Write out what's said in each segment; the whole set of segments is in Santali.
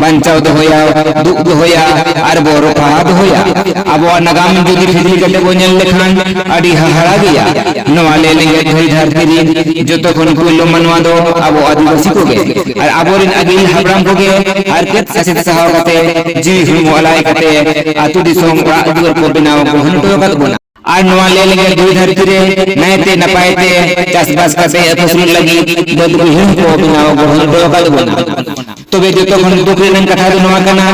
ᱵᱟᱧᱪᱟᱣ ᱫᱚᱦᱚᱭᱟ ᱫᱩᱜ ᱫᱚᱦᱚᱭᱟ ᱟᱨ ᱵᱚ ᱨᱚᱯᱷᱟ ᱫᱚᱦᱚᱭᱟ ᱟᱵᱚᱣᱟᱜ ᱱᱟᱜᱟᱢ ᱡᱩᱫᱤ ᱯᱷᱤᱫᱤ ᱠᱟᱛᱮ ᱵᱚ ᱧᱮᱞ ᱞᱮᱠᱷᱟᱱ ᱟᱹᱰᱤ ᱦᱟᱦᱟᱲᱟ ᱜᱮᱭᱟ ᱱᱚᱣᱟ ᱞᱮ ᱞᱮᱜᱮ ᱫᱷᱟᱹᱨ ᱫᱷᱟᱹᱨᱛᱤ ᱨᱤᱱ ᱡᱚᱛᱚ ᱠᱷᱚᱱ ᱯᱩᱭᱞᱩ ᱢᱟᱱᱣᱟ ᱫᱚ ᱟᱵᱚ ᱟᱹᱫᱤᱵᱟᱹᱥᱤ ᱠᱚᱜᱮ ᱟᱨ ᱟᱵᱚᱨᱮᱱ ᱟᱹᱜᱤᱞ ᱦᱟᱯᱲᱟᱢ ᱠᱚᱜᱮ ᱟᱨ ᱠᱮᱫ ᱥᱟᱥᱮᱛ ᱥᱟᱦᱟᱣ ᱠᱟᱛᱮ ᱡᱤᱣᱤ ᱦᱚᱲᱢᱚ ᱟᱞᱟᱭ ᱠᱟᱛᱮ ᱟᱛᱩ ᱫᱤᱥᱚᱢ ᱚᱲᱟᱜ ᱫᱩᱣᱟᱹᱨ ᱠᱚ ᱵᱮᱱᱟᱣ ᱜᱚᱲᱦᱚᱱ ᱦᱚᱴᱚ ᱟᱠᱟᱫ ᱵᱚᱱᱟ ᱟᱨ ᱱᱚᱣᱟ ᱞᱟᱹᱭ ᱞᱮᱠᱟ ᱫᱩᱭ ᱫᱷᱟᱹᱨᱛᱤ ᱨᱮ ᱱᱟᱭᱛᱮ ᱱᱟᱯᱟᱭ ᱛᱮ ᱪᱟᱥᱵᱟᱥ ᱠᱟᱛᱮ ᱟᱹᱥᱩᱞ ᱞᱟᱹᱜᱤᱫ ᱵᱟᱹᱫ ᱵᱟᱹᱭᱦᱟᱹᱲ ᱠᱚ ᱵᱮᱱᱟᱣ ᱜᱚᱲᱚ ᱦᱚᱴᱚ ᱟᱠᱟᱫ ᱵᱚᱱᱟ ᱛᱚᱵᱮ ᱡᱚᱛᱚ ᱠᱷᱚᱱ ᱫᱩᱠ ᱨᱮᱱᱟᱜ ᱠᱟᱛᱷᱟ ᱫᱚ ᱱᱚᱣᱟ ᱠᱟᱱᱟ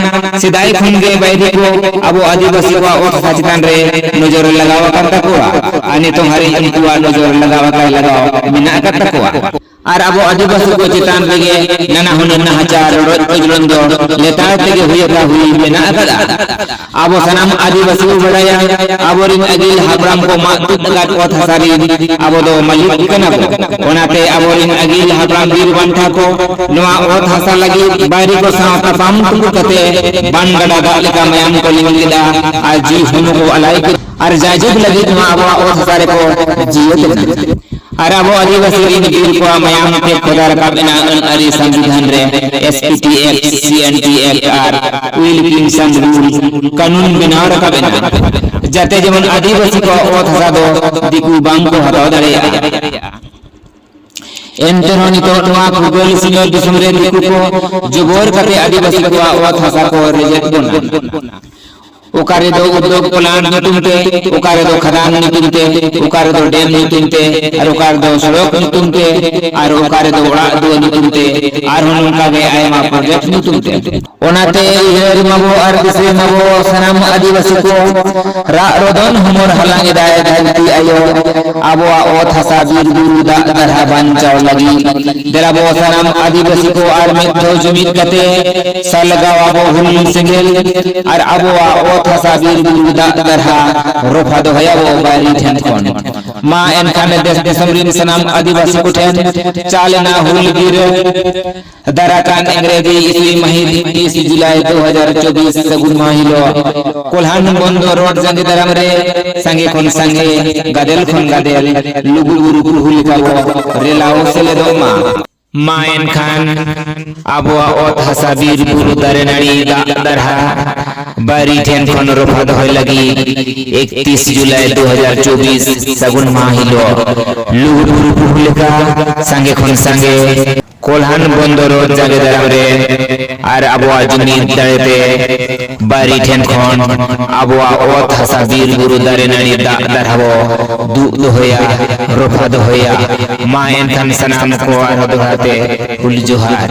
ᱥᱮᱫᱟᱭ ᱠᱷᱚᱱ ᱜᱮ ᱵᱟᱭᱨᱤ ᱠᱚ ᱟᱵᱚ ᱟᱹᱫᱤᱵᱟᱹᱥᱤ ᱠᱚᱣᱟᱜ ᱚᱛ ᱦᱟᱥᱟ ᱪᱮᱛᱟᱱ ᱨᱮ ᱱᱚᱡᱚᱨ ᱞᱟᱜᱟᱣ ᱟᱠᱟᱱ ᱛᱟᱠᱚᱣᱟ ᱟᱨ ᱱᱤᱛᱚᱝ ᱦᱟᱹᱨᱤᱡ ᱩᱱᱠᱩᱣᱟᱜ ᱱᱚᱡᱚᱨ ᱞᱟᱜᱟᱣ ᱟᱠᱟᱭ ᱞᱟᱜᱟᱣ ᱢᱮᱱᱟᱜ ᱟᱠᱟᱫ ᱛᱟᱠᱚᱣᱟ ᱟᱨ ᱟᱵᱚ ᱟᱹᱫᱤᱵᱟᱹᱥᱤ ᱠᱚ ᱪᱮᱛᱟᱱ ᱨᱮᱜᱮ ᱱᱟᱱᱟ ᱦᱩᱱᱟᱹᱨ ᱱᱟᱦᱟᱪᱟᱨ ᱨᱚᱰᱚᱡ ᱠᱚᱪᱞᱚᱱ ᱫᱚ ᱞᱮᱛᱟᱲ ᱛᱮᱜᱮ ᱦᱩᱭ ᱟᱠᱟ ᱦᱩᱭ ᱢᱮᱱᱟᱜ ᱟᱠᱟᱫᱟ ᱟᱵᱚ ᱥᱟᱱᱟᱢ ᱟᱹᱫᱤᱵᱟᱹᱥᱤ ᱵᱚ ᱵᱟᱲᱟᱭᱟ ᱟᱵᱚᱨᱤᱱ ᱟᱹᱜᱤᱞ ᱦᱟᱯᱲᱟᱢ ᱠᱚ ᱢᱟᱜ ᱛᱩᱫ ᱟᱠᱟᱫ ᱚᱛ ᱦᱟᱥᱟ ᱨᱤᱱ ᱟᱵᱚ ᱫᱚ ᱢᱟᱹᱞᱤᱠ ᱠᱟᱱᱟ ᱵᱚ ᱚᱱᱟᱛᱮ ᱟᱵᱚᱨᱤᱱ ᱟᱹᱜᱤᱞ ᱦᱟᱯᱲᱟᱢ ᱵᱤᱨ ᱵᱟᱱᱴᱷᱟ ᱠᱚ ᱱᱚᱣᱟ ᱚᱛ ᱦᱟᱥᱟ ᱞᱟᱹᱜᱤᱫ ᱵᱟᱭᱨᱤ ᱠᱚ ᱥᱟᱶ ᱛᱟᱯᱟᱢ ᱛᱩᱯᱩ ᱠᱟᱛᱮ ᱵᱟᱱ ᱜᱟᱰᱟ ᱫᱟᱜ ᱞᱮᱠᱟ ᱢᱟᱭᱟᱢ ᱠᱚ ᱞᱤᱸᱜᱤ ᱞᱮᱫᱟ ᱟᱨ ᱡᱤᱣᱤ ᱦᱚᱱᱚ ᱠᱚ ᱟᱞᱟᱭ ᱠᱮᱫᱟ ᱟᱨ ᱡᱟᱭᱡᱩᱜᱽ ᱞᱟᱹᱜᱤᱫ ᱱᱚᱣᱟ ᱟᱵᱚᱣᱟᱜ ᱚᱛ ᱦᱟᱥᱟ ᱨᱮᱠᱚ ᱡᱤᱭᱟᱹᱛ ᱞᱮᱱᱟ ᱟᱨ ᱟᱵᱚ ᱟᱹᱫᱤᱵᱟᱹᱥᱤ ᱨᱤᱱ ᱵᱤᱨ ᱠᱚᱣᱟᱜ ᱢᱟᱭᱟᱢ ᱛᱮ ᱠᱷᱚᱫᱟ ᱨᱟᱠᱟᱵ ᱮᱱᱟ ᱟᱹᱱ ᱟᱹᱨᱤ ᱥᱚᱝᱵᱤᱫᱷᱟᱱ ᱨᱮ ᱮᱥᱯᱤᱴᱤ ᱮᱠᱴ ᱥᱤᱮᱱᱴᱤ ᱮᱠᱴ ᱟᱨ ᱩᱭᱤᱞᱠᱤᱱᱥᱚᱱ ᱨᱩᱞ ᱠᱟᱹᱱᱩᱱ ᱵᱮᱱᱟᱣ ᱨᱟᱠᱟᱵ ᱮᱱᱟ ᱡᱟᱛᱮ ᱡᱮᱢᱚᱱ ᱟᱹᱫᱤᱵᱟᱹᱥᱤ ᱠᱚᱣᱟᱜ ᱚᱛ ᱦᱟᱥᱟ ᱫᱚ ᱫᱤᱠᱩ ᱵᱟᱝ ᱠᱚ ᱦᱟᱛᱟᱣ ᱫᱟᱲᱮᱭᱟᱜᱼᱟ ᱮᱱᱛᱮ ᱨᱮᱦᱚᱸ ᱱᱤᱛᱚᱜ ᱱᱚᱣᱟ ᱯᱷᱩᱨᱜᱟᱹᱞ ᱥᱤᱧᱚᱛ ᱫᱤᱥᱚᱢ ᱨᱮ ᱫᱤᱠᱩ ᱠᱚ ᱡᱚᱵᱚᱨ ᱠᱟᱛᱮ ᱟᱹᱫᱤᱵᱟᱹᱥᱤ ᱠᱚᱣᱟᱜ ᱚᱛ ᱦᱟᱥᱟ ᱠᱚ ᱨᱮᱡᱮᱫ ᱵᱚᱱᱟ ᱚᱠᱟ ᱨᱮᱫᱚ ᱩᱫᱽᱫᱳᱜᱽ ᱯᱞᱟᱱᱴ ᱧᱩᱛᱩᱢ ᱛᱮ ᱚᱠᱟ ᱨᱮᱫᱚ ᱠᱷᱟᱫᱟᱱ ᱧᱩᱛᱩᱢ ᱛᱮ ᱚᱠᱟ ᱨᱮᱫᱚ ᱰᱮᱢ ᱧᱩᱛᱩᱢ ᱛᱮ ᱟᱨ ᱚᱠᱟ ᱨᱮᱫᱚ ᱥᱚᱲᱚᱠ ᱧᱩᱛᱩᱢ ᱛᱮ ᱟᱨ ᱚᱠᱟ ᱨᱮᱫᱚ ᱚᱲᱟᱜ ᱫᱩᱣᱟᱹᱨ ᱧᱩᱛᱩᱢ ᱛᱮ ᱟᱨᱦᱚᱸ ᱱᱚᱝᱠᱟ ᱜᱮ ᱟᱭᱢᱟ ᱯᱨᱚᱡᱮᱠᱴ ᱧᱩᱛᱩᱢ ᱛᱮ ᱚᱱᱟᱛᱮ ᱩᱭᱦᱟᱹᱨ ᱢᱟᱵᱚ ᱟᱨ ᱫᱤᱥᱟᱹ ᱢᱟᱵᱚ ᱥᱟᱱᱟᱢ ᱟᱹᱫᱤᱵᱟᱹᱥᱤ ᱠᱚ ᱨᱟᱜ ᱨᱚᱫᱚᱱ ᱦᱚᱢᱚᱨ ᱦᱟᱞᱟᱝ ᱮᱫᱟᱭ ᱫᱷᱟᱹᱨᱛᱤ ᱟᱭᱳ ᱟᱵᱚᱣᱟᱜ ᱚᱛ ᱦᱟᱥᱟ ᱵᱤᱨ ᱵᱩᱨᱩ ᱫᱟᱜ ᱫᱟᱨᱦᱟ ᱵᱟᱧᱪᱟᱣ ᱞᱟᱹᱜᱤᱫ ᱫᱮᱞᱟ ᱵᱚ ᱥᱟᱱᱟᱢ ᱟᱹᱫᱤᱵᱟᱹᱥᱤ ᱠᱚ ᱟᱨ ᱢᱤᱫ ᱫᱷᱟᱣ ᱡᱩᱢᱤᱫ ᱠᱟᱛᱮ ᱥᱟᱞᱜᱟᱣ ᱟᱵᱚ ᱦᱩᱞ ᱥᱮᱸᱜᱮᱞ ᱟᱨ ᱟᱵᱚᱣᱟᱜ ᱚᱛ ᱦᱟᱥᱟ ᱵᱤᱨ ᱵᱩᱨᱩ ᱫᱟᱜ ᱫᱟᱨᱦᱟ ᱨᱚᱯᱷᱟ ᱫᱚᱦᱚᱭᱟᱵᱚ ᱵᱟᱭᱨᱤ ᱴᱷᱮᱱ ᱠᱷᱚᱱ ᱢᱟ ᱮᱱᱠᱷᱟᱱ ᱫᱮᱥ ᱫᱤᱥᱚᱢ ᱨᱤᱱ ᱥᱟᱱᱟᱢ ᱟᱹᱫᱤᱵᱟᱹᱥᱤ ᱠᱚᱴᱷᱮᱱ ᱪᱟᱞᱮᱱᱟ ᱦᱩᱞ ᱜᱤᱨᱟᱹ ᱫᱟᱨᱟᱠᱟᱱ ᱤᱝᱨᱮᱡᱤ ᱤᱥᱤ ᱢᱟᱹᱦᱤᱛ ᱛᱤᱥ ᱡᱩᱞᱟᱭ ᱫᱩ ᱦᱟᱡᱟᱨ ᱪᱚᱵᱵᱤᱥ ᱥᱟᱹᱜᱩᱱ ᱢᱟᱦᱟ ᱦᱤᱞᱳᱜ ᱠᱚᱞᱦᱟᱱ ᱵᱚᱱᱫᱚ ᱨᱳᱰ ᱡᱟᱸᱜᱮ ᱫᱟᱨᱟᱢ ᱨᱮ ᱥᱟᱸᱜᱮ ᱠᱷᱚᱱ ᱥᱟᱸᱜᱮ ᱜᱟᱫᱮᱞ ᱠᱷᱚᱱ ᱜᱟᱫᱮᱞ ᱞᱩᱜᱩ ᱵᱩᱨᱩ ᱯᱩᱨᱦᱩ ᱞᱮᱠᱟ ᱵᱚ ᱨᱮᱞᱟᱣ ᱥᱮᱞᱮᱫᱚᱜ ᱢᱟ ᱢᱟ ᱮᱱᱠᱷᱟᱱ ᱟᱵᱚᱣᱟᱜ ᱚᱛ ᱦᱟᱥᱟ ᱵᱤᱨ ᱵᱩᱨᱩ ᱫᱟᱨᱮ ᱱᱟᱹᱲᱤ ᱫᱟᱜ ᱫᱟᱨᱦᱟ ᱵᱟᱹᱨᱤ ᱴᱷᱮᱱ ᱠᱷᱚᱱ ᱨᱚᱯᱷᱟ ᱫᱚᱦᱚᱭ ᱞᱟᱹᱜᱤᱫ ᱮᱠᱛᱤᱥ ᱡᱩᱞᱟᱭ ᱫᱩ ᱦᱟᱡᱟᱨ ᱪᱚᱵᱵᱤᱥ ᱥᱟᱹᱜᱩᱱ ᱢᱟᱦᱟ ᱦᱤᱞᱳᱜ ᱞᱩᱜᱩ ᱵᱩᱨᱩ ᱯᱩᱨᱦᱩ ᱞᱮᱠᱟ ᱥᱟᱸᱜᱮ ᱠᱷᱚᱱ ᱥᱟᱸᱜᱮ ᱠᱚᱞᱦᱟᱱ ᱵᱚᱱᱫᱚᱨ ᱡᱟᱸᱜᱮ ᱫᱟᱨᱟᱢ ᱨᱮ ᱟᱨ ᱟᱵᱚᱣᱟᱜ ᱡᱩᱢᱤᱫ ᱫᱟᱲᱮᱛᱮ ᱵᱟᱭᱨᱤ ᱴᱷᱮᱱ ᱠᱷᱚᱱ ᱟᱵᱚᱣᱟᱜ ᱚᱛ ᱦᱟᱥᱟ ᱵᱤᱨ ᱵᱩᱨᱩ ᱫᱟᱨᱮ ᱱᱟᱹᱲᱤ ᱫᱟᱜ ᱫᱟᱨᱦᱟ ᱵᱚ ᱫᱩᱜ ᱫᱚᱦᱚᱭᱟ ᱨᱚᱯᱷᱟ ᱫᱚᱦᱚᱭᱟ ᱢᱟ ᱮᱱᱠᱷᱟᱱ ᱥᱟᱱᱟᱢ ᱠᱚ ᱟᱨᱦᱚᱸ ᱫᱚᱦᱲᱟ ᱛᱮ ᱦᱩᱞ ᱡᱚᱦᱟᱨ